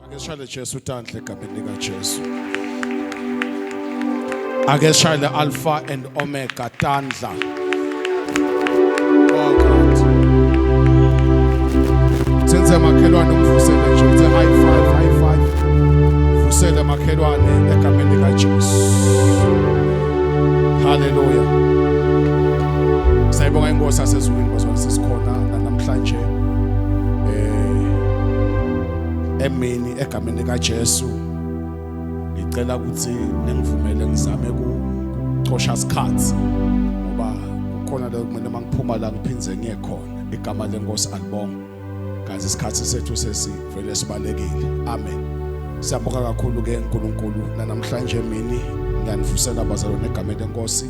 Ake sishale Jesu utanhle egameni lika Jesu. Ake sishale Alpha and Omega tandla. Oh God. Senze makhelwane umvusele nje uthe high five high five. Vusele makhelwane egameni lika Jesu. Hallelujah. Sayibonga inkosi asezulwini bazwa sisikhona namhlanje. emini egameni likaJesu ngicela ukuthi ningivumele ngizame kucosha isikhathi ngoba kukhona la kumele mangiphuma la ngiphindze ngiye khona igama lenkosi alibonga kazi isikhathi sethu sesivele sibalekile amen siyabonga kakhulu ke uNkulunkulu namhlanje emini ngiyanifusela bazalwane egameni lenkosi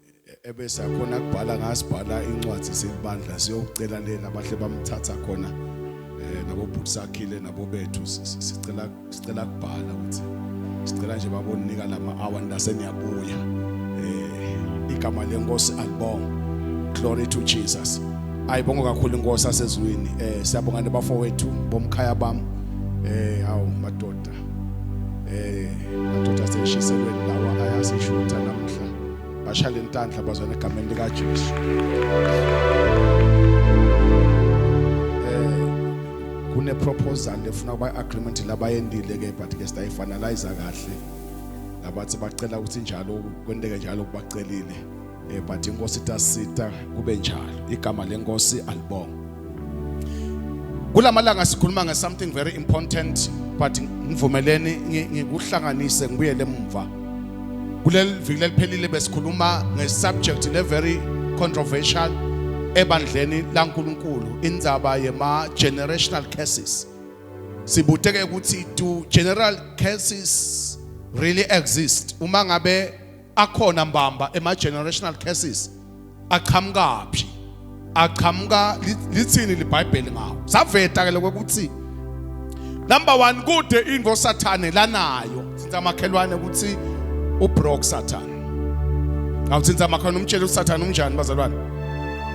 ebese akhona kubhala ngasibhala incwadi selibandla siyocela lena abahle bamthatha khona eh nabo bhuti sakhile nabo bethu sicela sicela kubhala ukuthi sicela nje babonika lama hour ndase niyabuya eh igama lenkosi alibonga glory to jesus ayibonga kakhulu inkosi asezulwini eh siyabonga nebafowethu bomkhaya bami eh hawu madoda eh madoda seshiselweni lawa ayasishutha namhla bashale intandla bazwana egameni lika Jesu eh kune proposal efuna ba agreement labayendile ke but ke siya finalize kahle labathi bacela ukuthi njalo kwenteke njalo kubacelile Eh but inkosi tasita kube njalo. Igama lenkosi alibonga. Kulamalanga sikhuluma nge something very important but ngivumeleni ngikuhlanganise ngibuyele emuva. Kuleli viki leliphelile besikhuluma nge subject le very controversial ebandleni laNkuluNkulu indzaba yema generational curses. Sibuteke ukuthi do general curses really exist uma ngabe akhona mbamba ema generational curses aqhamukaphi aqhamuka lithini libhayibheli ngawo saveta ke lokho ukuthi number 1 kude into sathane lanayo sithatha amakhelwane ukuthi ubroke sathane awuthinta amakhelwane umtshele usathane unjani bazalwane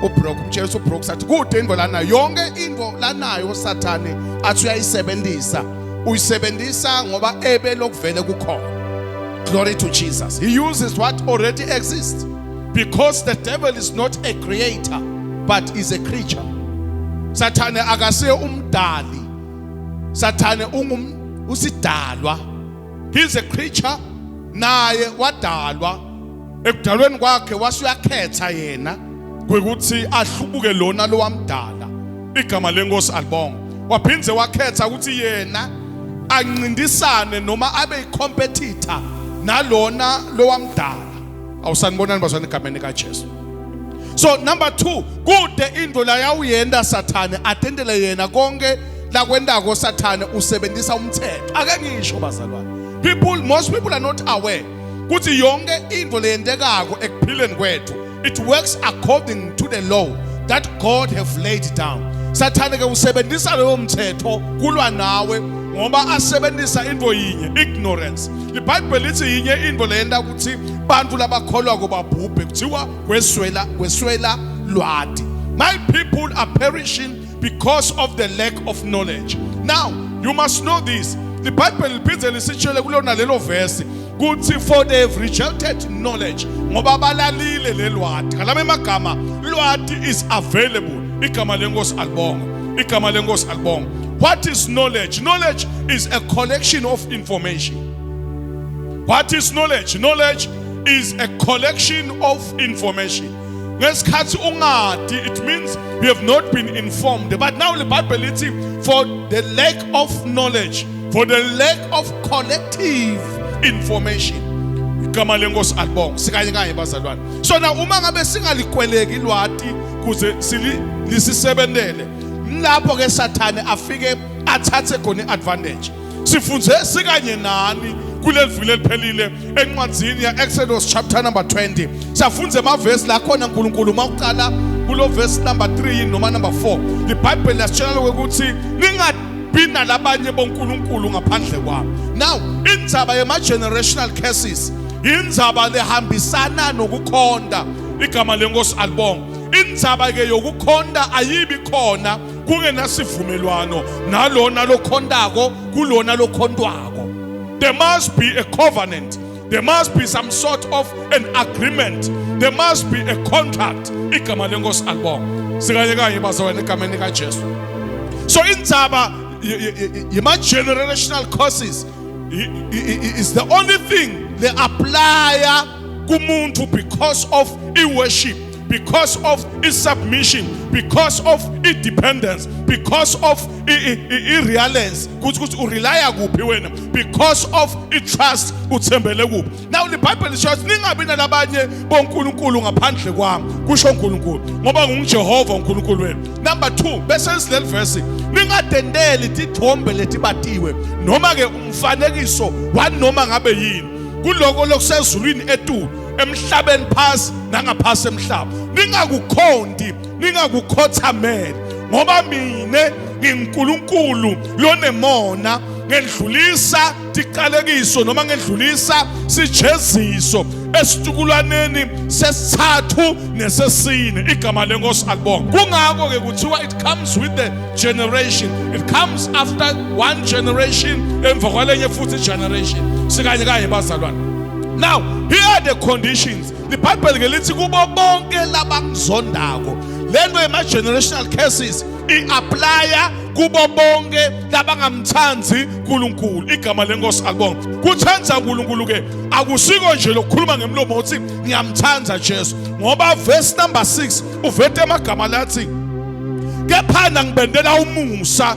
ubroke umtshele ukuthi ubroke sathane kude into lanayo yonke into lanayo usathane athi uyayisebenzisa uyisebenzisa ngoba ebe lokuvele kukhona Glory to Jesus. He uses what already exists because the devil is not a creator but is a creature. Sathane akasiye umdali. Sathane ungum usidalwa. He is a creature naye wadalwa ekudalweni kwakhe wasuyakhetha yena ukuthi ahlubuke lona lowamdala igama lenkosi alibonga waphinde wakhetha ukuthi yena ancintisane noma abe icompetitor nalona lowamdala awusanibonani bazwana egameni kaJesu so number 2 kude into la yawuyenda sathane atendele yena konke lakwendako sathane usebenzisa umthetho ake ngisho bazalwane people most people are not aware ukuthi yonke into leyendekako ekuphileni kwethu It works according to the law that God have laid down. Sathane ke usebenzisa leyo mthetho kulwa nawe ngoba asebenzisa into yinye ignorance. IBhayibheli lithi yinye into leyenda ukuthi bantu labakholwa kubabhubhe kuthiwa kweswela kweswela lwadi. My people are perishing because of the lack of knowledge now you must know this the bible liphinde lisitshele kulona lelo verse kuthi for they have rejected knowledge ngoba balalile lelwadi ngalama emagama lwadi is available igama lenkosi alibonga igama lenkosi alibonga what is knowledge knowledge is a collection of information what is knowledge knowledge is a collection of information ngesikhathi ungadi it means you have not been informed but now the bible lithi for the lack of knowledge for the lack of collective information igama lenkosi alibonga sikanye kanye bazalwane so na uma ngabe singalikweleki lwati kuze silisisebentele lapho ke sathane afike athathe khona advantage Sifunde sikanye nani kuleli vile eliphelile encwadzini ya Exodus chapter number 20. Safunda emavesi la khona uNkulunkulu uma uqala kulo verse number 3 noma number 4. IBhayibheli lasitshela ukuthi ningabi nalabanye boNkulunkulu ngaphandle kwami. Now, indzaba yema generational curses indzaba lehambisana nokukhonda igama lenkosi alibonga. Indzaba ke yokukhonda ayibi khona kungenasivumelwano nalona lokhontako kulona lokhontwako there must be a covenant there must be some sort of an agreement there must be a contract igama lenkosi alibonga sikanye kanye bazalwane egameni likajesu so indzaba yema-generational courses is the only thing le-aplaya kumuntu because of i-worship because of its submission because of its dependence because of i-realence ukuthi ukuthi urelya kuphi wena because of i-trust uthembele kuphi now libhayibheli lisho ukuthi ningabi nalabanye bonkulunkulu ngaphandle kwami kusho unkulunkulu ngoba ngungijehova unkulunkulu wenu number two bese sileli verse ningadendeli tithombe letibatiwe noma-ke umfanekiso wanoma ngabe yini kuloko lokusezulwini etulu emhlabeni phasi nangaphasi emhlaba ningakukhonti ningakukhothamele ngoba mina nginguNkulunkulu lonemona ngedlulisa tiqalekiso noma ngedlulisa sijeziso esitukulwaneni sesithathu nesesine igama lenkosi alibonga kungakho ke kuthiwa it comes with the generation it comes after one generation emva kwalenye futhi generation sikanye kanye bazalwane Now, here are the conditions. The Bible ngelithi kubo bonke labangizondako. Lento yema generational curses i applya kubo bonke labangamthandi uNkulunkulu. Igama lenkosi akubonga. Kuthanda uNkulunkulu ke akusiko nje lokukhuluma ngemlomo uthi ngiyamthanda Jesu. Ngoba verse number 6 uvete amagama lathi kephana ngibendela umusa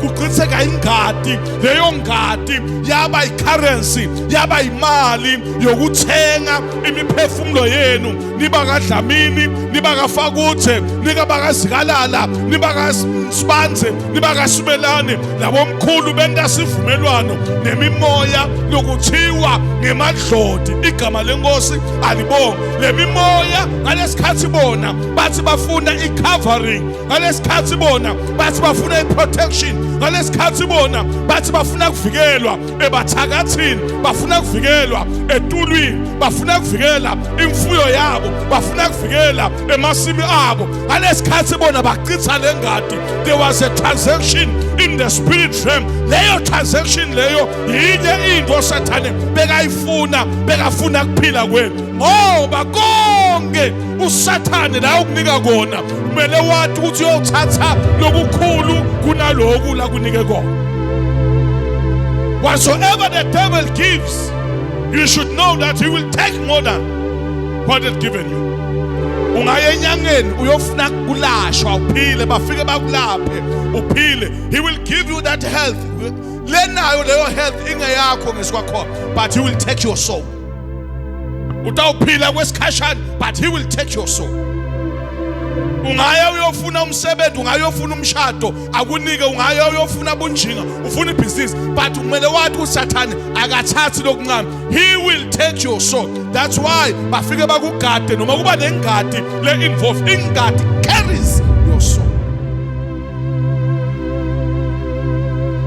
kuchitheka ingadi leyo ngadi yaba icurrency yaba imali yokuthenga imiphefumulo yenu niba kadlamini niba kafakuthe nika bakazikalala niba kasibanze niba kasimelane labomkhulu benta sivumelwano nemimoya lokuthiwa ngemadlodi igama lenkosi alibonge lemimoya ngalesikhathi bona bathi bafuna icovering ngalesikhathi bona bathi bafuna iprotection ngalesikhathi bona bathi bafuna kuvikelwa ebathakathini bafuna kuvikelwa etulwini bafuna kuvikela imfuyo yabo bafuna kuvikela emasimi abo ngalesikhathi bona bachitha lengadi there was a transaction in the spirit realm leyo transaction leyo yinye into osathane bekayifuna bekafuna kuphila kwenu ngoba konke usathane la ukunika kona kumele wathi ukuthi uyothatha lokukhulu kunaloku la kunike kona whatsoever the devil gives you should know that he will take more than what is given you ungaya enyangeni uyofuna kulashwa uphile bafike bakulaphe uphile he will give you that health lenayo leyo health ingeyakho ngesikwakhona but he will take your soul utawuphila kwesikhashana but he will take your soul ungaya uyofuna umsebenzi ungaya uyofuna umshado akunike ungaya uyofuna bunjinga ufuna ibhizinisi but kumele wathi usathane akathathi lokuncane he will take your soul that's why bafike bakugade noma kuba nengadi le-involve ingadi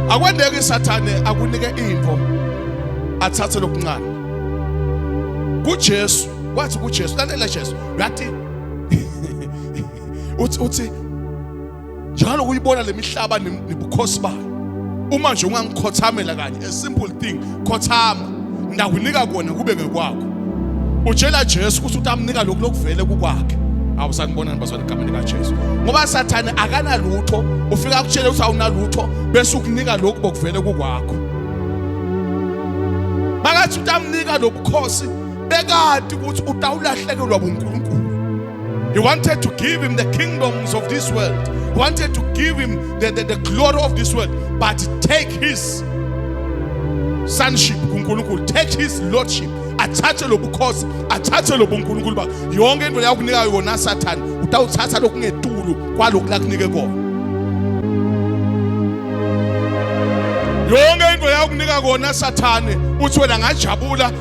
akwendeki isathane akunike impo athathe lokuncane kuJesu wathi kuJesu lalela Jesu yathi uthi uthi njalo kuyibona lemihlaba nebukhosi bayo uma nje ungangikhothamela kanye a simple thing khothama ndakunika kona kube ngekwakho utshela Jesu ukuthi utamnika lokhu lokuvele kukwakhe awu sanibonani bazwana egameni kaJesu ngoba sathane akanalutho ufika akutshele ukuthi awunalutho bese ukunika lokhu bokuvele kukwakho bakathi utamnika lobukhosi bekati ukuthi utawulahlekelwa bunkulunkulu He wanted to give him the kingdoms of this world. He wanted to give him the, the, the glory of this world. But take his sonship kuNkulunkulu. Take his lordship. Athathe lobukhosi, athathe lobuNkulunkulu ba. Yonke into yakunika yona Satan, utawuthatha lokungetulu kwaloku lakunike kona. Yonke into yakunika kona Sathane, uthi wena ngajabula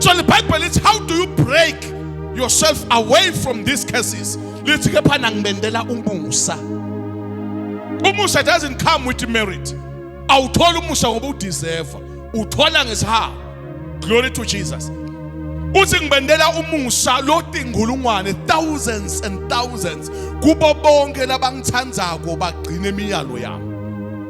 So the Bible is how do you break yourself away from these curses? Lithi ke phana ngibendela umusa. Umusa doesn't come with merit. Awuthola umusa ngoba udeserve. Uthola ngesihawu. Glory to Jesus. uthi ngibendela umusa lotingulungwane thousands and thousands kubo bonke labangithandzako bagcine imiyalo yami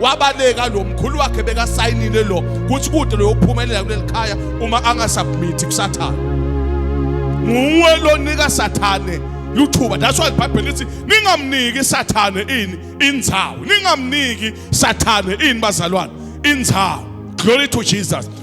wabaleka lo mkhulu wakhe bekasayinile lo kuthi kude loyophumelela kuleli khaya uma angasubmithi kusathane nguwe lonika sathane luthuba that's why ibhayibheli lithi ningamniki sathane ini indzawo ningamniki sathane ini bazalwane indzawo glory to jesus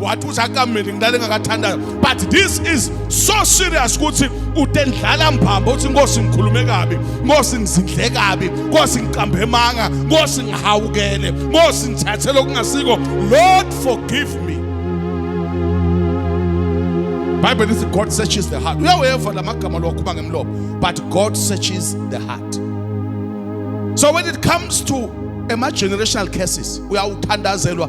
wathi usakamile ngilale ngakathandayo but this is so serious ukuthi utendlala mbhamba uthi inkosi ngikhulume kabi inkosi ngizindle kabi inkosi ngiqambe manga inkosi ngihawukele inkosi ngithathe lokungasiko lord forgive me bible lithi god searches the heart uyaweva la magama lowakhuma ngemlomo but god searches the heart so when it comes to ema-generational curses uyawuthandazelwa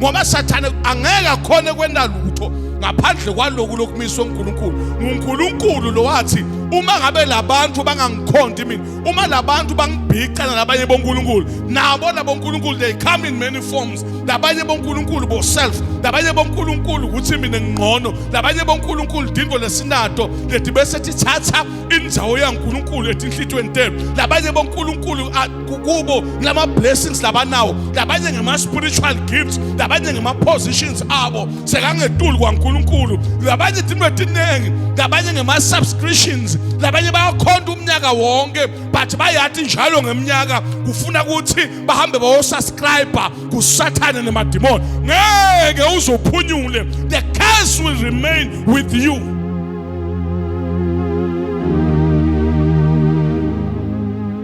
ngoba sathane angeke akhone kwenda lutho ngaphandle kwaloku lokumiswa uNkulunkulu nguNkulunkulu lo wathi uma ngabe labantu bangangikhonti mina uma labantu bangibhicana labanye boNkulunkulu nabo labo uNkulunkulu they come in many forms labanye boNkulunkulu bo self labanye boNkulunkulu ukuthi mina ngingcono labanye boNkulunkulu dingo lesinato leti bese tithatha injawo yaNkulunkulu etinhlitweni tenu labanye boNkulunkulu kubo lama blessings labanawo labanye ngema spiritual gifts labanye ngema positions abo sekangetulu kwaNkuluNkulu labanye into etiningi labanye ngema subscriptions labanye bayakhonda umnyaka wonke but bayathi njalo ngeminyaka kufuna ukuthi bahambe bayo subscribe kusathane nemademon ngeke uzophunyule the curse will remain with you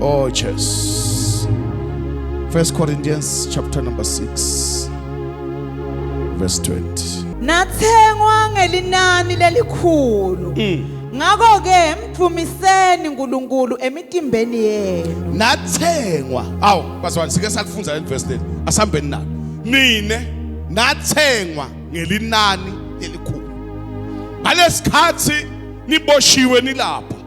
Oh Jesus. First Corinthians chapter number 6 verse 20. Nathengwa ngelinani lelikhulu. Mm. ngakho ke mvumiseni uNkulunkulu emitimbeni yenu nathengwa awu bazwana sike sakufunda le verse leli asihambeni nalo nine nathengwa ngelinani elikhulu ngalesikhathi niboshiwe nilapha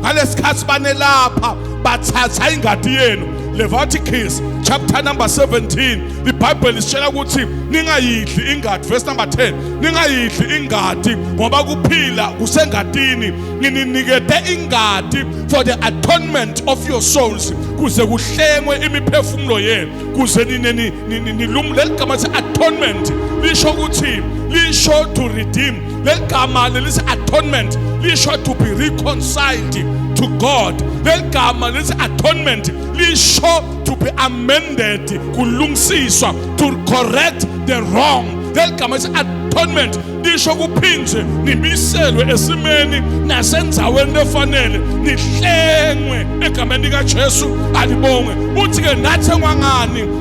ngalesikhathi banelapha bathatha ingadi yenu Leviticus chapter number 17 the bible isitshela ukuthi ningayidli ingadi verse number 10 ningayidli ingadi ngoba kuphila kusengadini ngininikete ingadi for the atonement of your souls kuze kuhlengwe imiphefumulo yenu kuze nilumule ligama atonement lisho ukuthi lisho to redeem leli gama lelithi atonement lisho to be reconciled to God leli gama lelithi atonement lisho to be amended kulungisiswa to correct the wrong leli gama lithi atonement lisho kuphindwe nibiselwe esimeni nasenzaweni efanele nihlengwe egameni likaJesu alibongwe uthi ke nathengwa ngani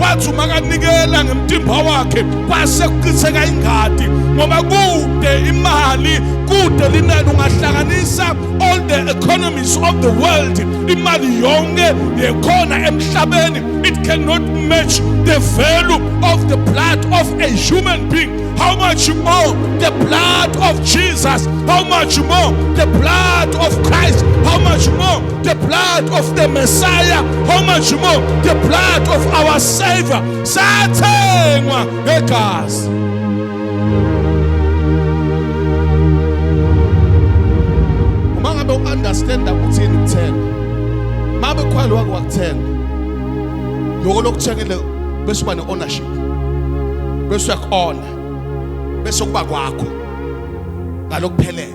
wathi umakanikela ngemtimba wakhe kwase kuchitheka ingadi ngoba kude imali kude linani ungahlanganisa all the economies of the world imali yonke yekhona emhlabeni it cannot match the value of the blood of a human being how much more the blood of Jesus how much more the blood of Christ how much more the blood of the Messiah, how much more the blood of our Savior, sathengwa ngegazi. Uma ngabe u-understanda kuthini ukuthenga, uma bekhwali wake wakuthenga, loko lokuthengele bese uba ne-ownership, bese uyaku-ona, bese kuba kwakho ngalokuphelele.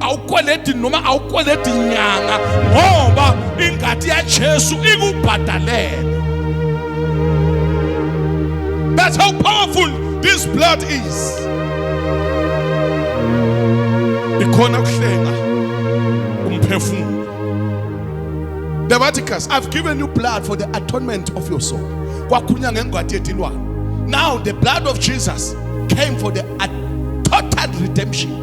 awukweledi noma awukweledi nyanga ngoba ingadi yaJesu ikubhadalele That's how powerful this blood is Ikhona ukuhlenga umphefumulo Leviticus I've given you blood for the atonement of your soul kwakhulunywa ngengwadi yedilwane Now the blood of Jesus came for the total redemption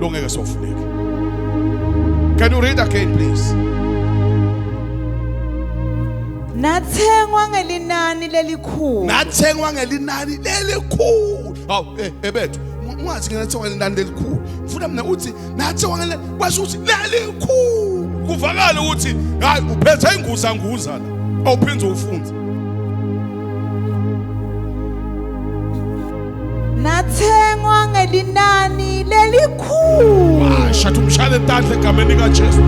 lo ngeke sofuneke can you read again please nathengwa ngelinani lelikhulu nathengwa ngelinani lelikhulu hawu eh, ebethu ungathi ngena thengwa ngelinani lelikhulu ngifuna mina uthi nathengwa ngelinani kwasho ukuthi lelikhulu kuvakala ukuthi hayi uphethe inguza nguza la awuphinde ufunde nathengwa ngelinani lelikhulu washa tumshayele tandla egameni kaJesu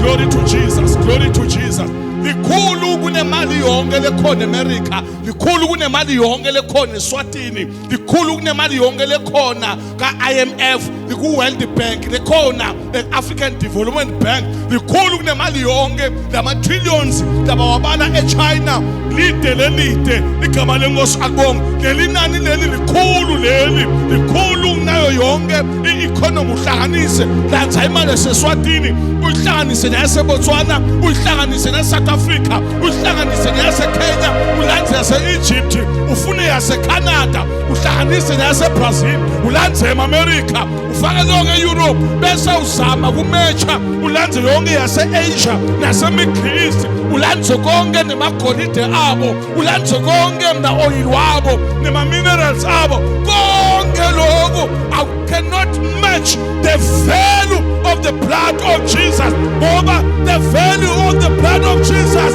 glory to Jesus glory to Jesus likhulu kunemali yonke lekhona eAmerica likhulu kunemali yonke lekhona eSwatini likhulu kunemali yonke lekhona kaIMF liku World Bank lekhona e-african development bank likhulu kunemali yonke lama-trillions labawabala echina lide lelide ligama lenkosi akubonge leli nani leli likhulu leli likhulu kunayo yonke i-economy uhlanganise lanza imali eseswatini uyihlanganise neyasebotswana uyihlanganise neyasouth africa uyihlanganise neyasekenya ulanze yase-egypt ufune yasecanada uhlanganise neyasebrazil ulanze ema-amerika ufake lonke e-europe bese uzama kumetsha ulandze yonke yase-asia nasemiddle east ulandze konke nemagolide abo ulandze konke mna-oyili wabo nema-minerals abo konke loku i cannot match the value of the blood of jesus ngoba the value of the blood of jesus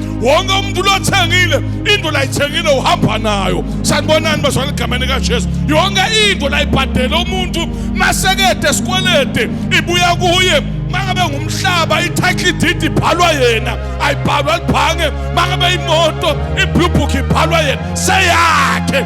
wonke umuntu lothengile into layithengile uhamba nayo sanibonani bazwana egameni kaJesu yonke into layibhadela umuntu masekede esikwelede ibuya kuye mangabe ngumhlaba i-title deed ibhalwa yena ayibhalwa libhange mangabe imoto i-blue book ibhalwa yena seyakhe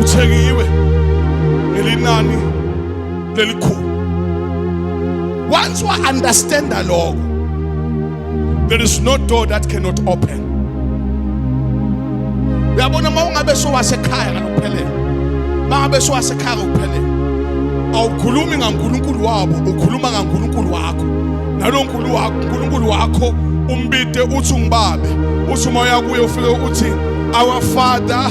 uthengiwe ngelinani lelikhulu once wa understanda lokho there is no door that cannot open uyabona uma ungabe sowasekhaya ngokuphelele uma ngabe sowasekhaya ngokuphelele awukhulumi ngaNkulunkulu wabo ukhuluma ngaNkulunkulu wakho nalonkulu wakho uNkulunkulu wakho umbide uthi ungibabe uthi uma uyakuye ufike uthi our father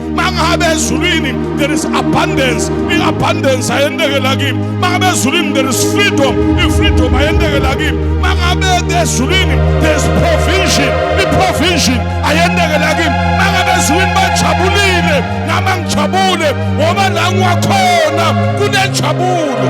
mangabe ezulwini there is abundance i-abundance ayendekela kimi mangabe ezulwini there is freedom i-freedom ayendekela kimi mangabe ezulwini there is provision i-provision ayendekela kimi mangabe ezulwini bajabulile nama ngijabule ngoba la ngiwakhona kunenjabulo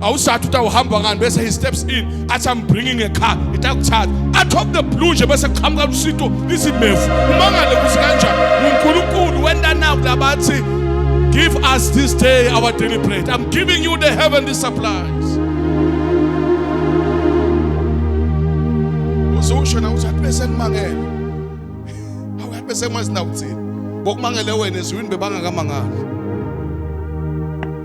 awusathi uthi awuhamba ngani bese he steps in athi i'm bringing a car itakuthatha out of the blue nje bese kuqhamuka lusito izimevu umangale ukuthi kanjani unkulunkulu wenta naku labathi give us this day our daily bread i'm giving you the heavenly supplies uzosho na ukuthi bese ngimangele awu bese ngwazi na ukuthini bokumangele wena ezwini bebangakamangala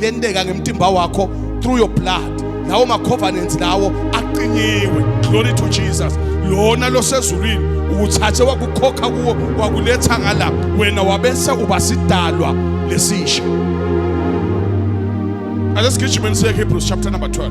lenteka ngemtimba wakho through your blood lawo ma-covenants lawo aqinyiwe glory to jesus lona losezulwini ukuthathe wakukhokha kuwo wakuletha ngala wena wabese uba sidalwa lesisha ake sigijimeni siye hebrews chapter number 12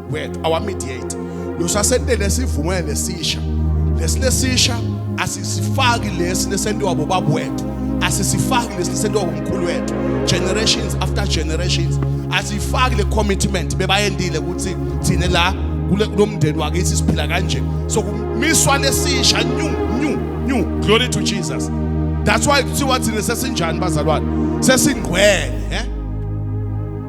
wet our mediate losasenele sivume lesisha lesilesisha asisifaki lesi lesentiwa bobaba wethu asisifaki lesi lesentiwa umkhulu wethu generations after generations asifaki le commitment bebayendile ukuthi thina la kulomndeni wakithi siphila kanje so kumiswa lesisha new new new glory to Jesus that's why kuthiwa thina sesinjani bazalwane sesingqwele eh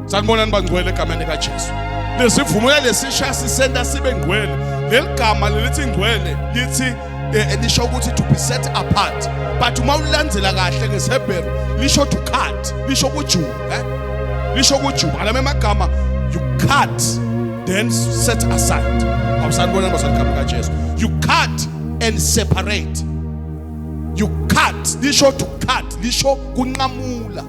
Sanibonani bangcwele egameni likaJesu. Lesivumo lesisha sisenta sibe ngcwele. Leli gama lelithi ngcwele lithi eh, lisho ukuthi to be set apart. But uma ulandzela kahle ngesiHebheru lisho to cut, lisho kujuba, eh? Lisho kujuba. Alama amagama you cut then set aside. Awusanibonani bazali egameni likaJesu. You cut and separate. You cut lisho to cut lisho kunqamula.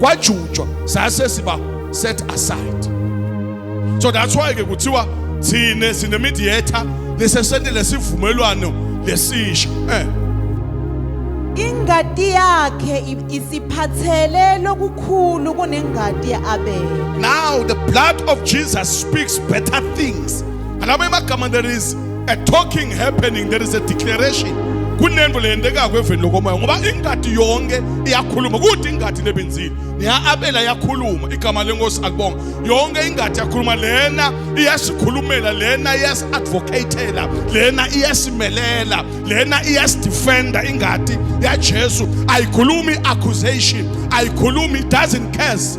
kwajutshwa zase ziba set aside so that's why ke kuthiwa thina sine mediator lesesente lesivumelwano lesisha eh ingadi yakhe isiphathele lokukhulu kunengadi yaAbele now the blood of Jesus speaks better things and amagama there is a talking happening there is a declaration kunento leyendekako eveni lokomoya ngoba ingadi yonke iyakhuluma kude ingadi nebenzile niya-abela yakhuluma igama lenkosi akubonga yonke ingadi yakhuluma lena iyasikhulumela lena iyasi-advocatela lena iyasimelela lena iyasidefenda ingadi yajesu ayikhulumi accusation ayikhulumi doesn't case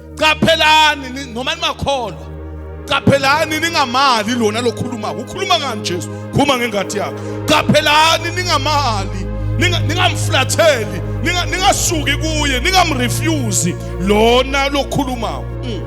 qaphelani ni- noma nimakholwa qaphelani ningamali lona lokhuluma ukhuluma ngani Jesu khuluma ngengadi yakhe qaphelani ningamali ninga- ningamflatheli ninga- ningasuki kuye ningamrefuse lona lokhulumayo Mm.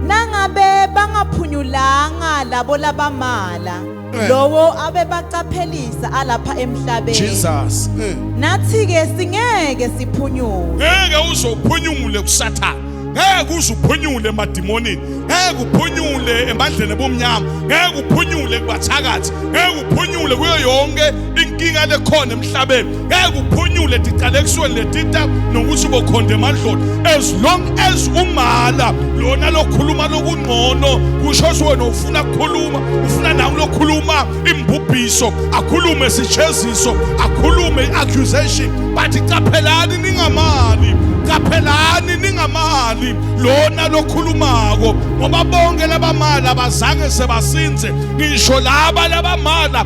Nangabe bangaphunyulanga labo labamala Eh. lowo abebaqaphelisa alapha emhlabeni Jesus. Eh. nathi ke singeke siphunyuke Ngeke uzophunyule kusathana. Ngeke uzuphunyule emadimoni. Ngeke uphunyule emandleni bomnyama. Ngeke uphunyule kubathakathi. Ngeke uphunyule kuyo yonke inkinga lekhona emhlabeni. ngeke uphunyule diqalekisweni letita nokuthi ubokhonde emadloti as long as umala lona lokhuluma lokungcono kusho ukuthi wena ufuna kukhuluma ufuna nawe lokhuluma imbubhiso akhulume isijeziso akhulume i-accusation but caphelani ningamali qaphelani ningamali lona lokhulumako ngoba bonke labamali abazange sebasinze ngisho laba labamala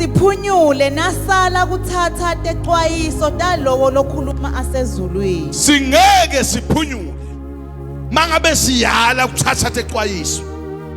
siphunyule nasala kuthatha texwayiso talowo lokhuluma asezulwini singeke siphunyule mangabe siyala kuthatha texwayiso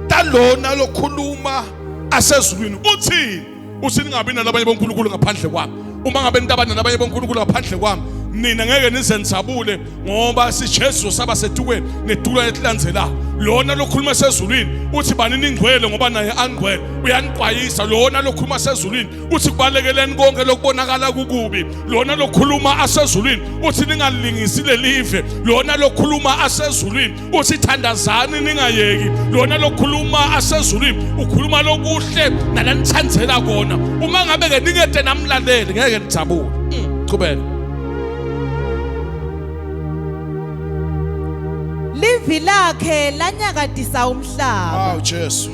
talona lokhuluma asezulwini uthini uthi ningabi nalabanye bonkulunkulu ngaphandle kwami uma ngabe nitabana nabanye bonkulunkulu ngaphandle kwami nina ngeke nizenzabule ngoba sijesu saba setukweni netulo elilandzelako lona lokhuluma sezulwini uthi bani ningcwele ngoba naye angcwele uyaniqwayisa lona lokhuluma sezulwini uthi kubalekeleni konke lokubonakala kukubi lona lokhuluma asezulwini uthi ningalingisi lelive lona lokhuluma asezulwini uthi thandazani ningayeki lona lokhuluma asezulwini ukhuluma lokuhle nalanithandzela kona uma ngabe ke ningede namlaleli ngeke nijabule mm, qhubeka livi lakhe lanyakadisa umhlaba awu jesu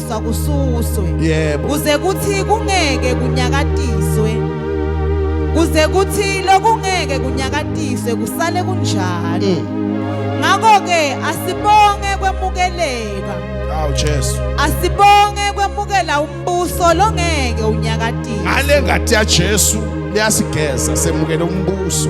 ukunyakaziswa kususwe yebo kuze kuthi kungeke kunyakatiswe kuze kuthi lokungeke kunyakatiswe kusale kunjalo mm. ngakho ke asibonge kwemukeleka awu Jesu asibonge kwemukela umbuso longeke unyakatise ngale ngathi ya Jesu liyasigeza semukele umbuso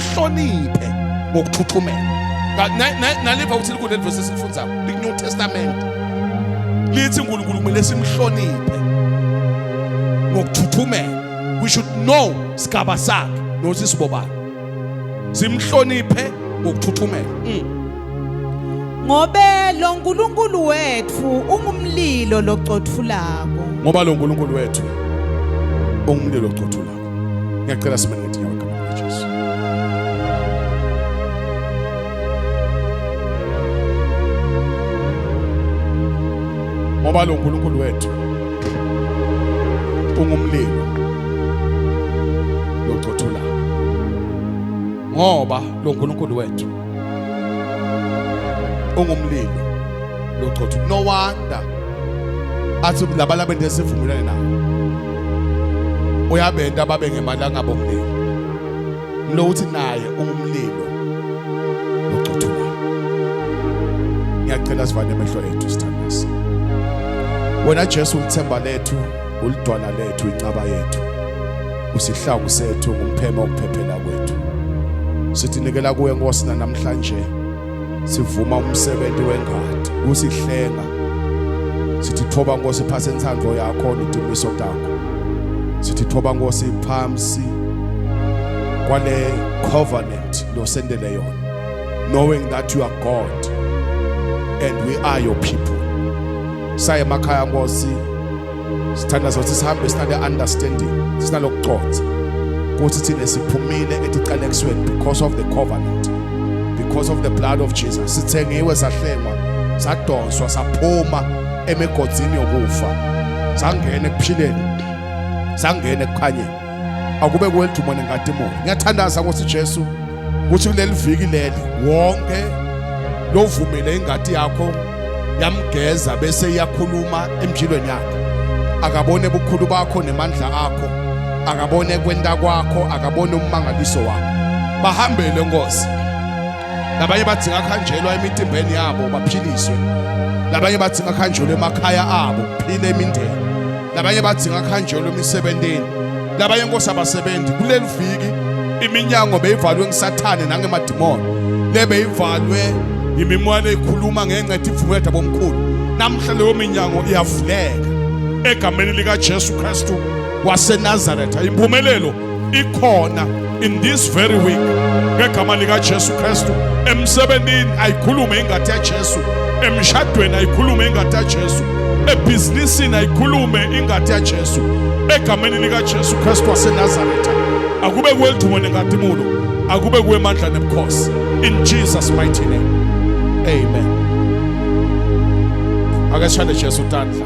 akuhloniphe ngokuthuthumela naliva ukuthi likhona leli vesi esifunzayo liku-new testament lithi unkulunkulu kumele simhloniphe ngokuthuthumela we should know sigaba sakhe nokuthi sibobani simhloniphe ngokuthuthumela mm. ngobe lo nkulunkulu wethu ungumlilo locothulako ngoba lo nkulunkulu wethu ungumlilo locothulako ngiyacela simane ngetinyawo egameni lajesu ngoba lo nkulunkulu wethu ungumlilo locothulayo ngoba lo nkulunkulu wethu ungumlilo lochotho no wonder athi labalaba ndesivumelane nawo uyabenta babe ngemali angabo mlilo lo uthi naye ungumlilo lochotho ngiyacela sivale amehlo ethu sithandasi wena Jesu ulithemba lethu ulidwala lethu incaba yethu usihlangu sethu ngumpheme okuphephela kwethu sithi nikela kuwe nkosi namhlanje sivuma umsebenzi wengadi usihlenga sithi thoba nkosi phasa inthando yakho nitimiso takho sithi thoba nkosi phamsi kwale covenant losendele yona knowing that you are God and we are your people saye emakhaya nkosi sithanda sothi sihambe sinale understanding sinalokuconsa ukuthi thina siphumile etiqalekisweni because of the covenant because of the blood of Jesus sithengiwe sahlengwa sadonswa saphuma emigodzini yokufa sangena ekuphileni sangena ekukhanyeni akube kweliduma nenkatimoni ngiyathandaza nkosi Jesu ukuthi kuleli viki leli wonke lovumile ingadi yakho yamgeza bese iyakhuluma emjilweni yakhe akabone bukhulu bakho nemandla akho akabone kwenta kwakho akabone ummangaliso wakho bahambele nkosi labanye bathi ngakhanjelwa emitimbeni yabo baphiliswe labanye bathi ngakhanjelwa emakhaya abo phile imindeni labanye badzinga kuhanjelwa emisebentini labanye nkosi abasebenzi kuleli viki iminyango beyivalwe ngisathane nangemadimoni lebeyivalwe yimimoya leyikhuluma ngenxa ethi ivumela bomkhulu namhla leyo minyango iyavuleka egameni likaJesu Kristu waseNazaretha impumelelo ikhona in this very week ngegama likaJesu Kristu emsebenzini ayikhulume ingadi yaJesu emshadweni ayikhulume ingadi yaJesu ebhizinisini ayikhulume ingadi yaJesu egameni likaJesu Kristu waseNazaretha akube kwelithumo nengadimulo akube kwemandla nebukhosi in Jesus mighty name amen akashande Jesu tandla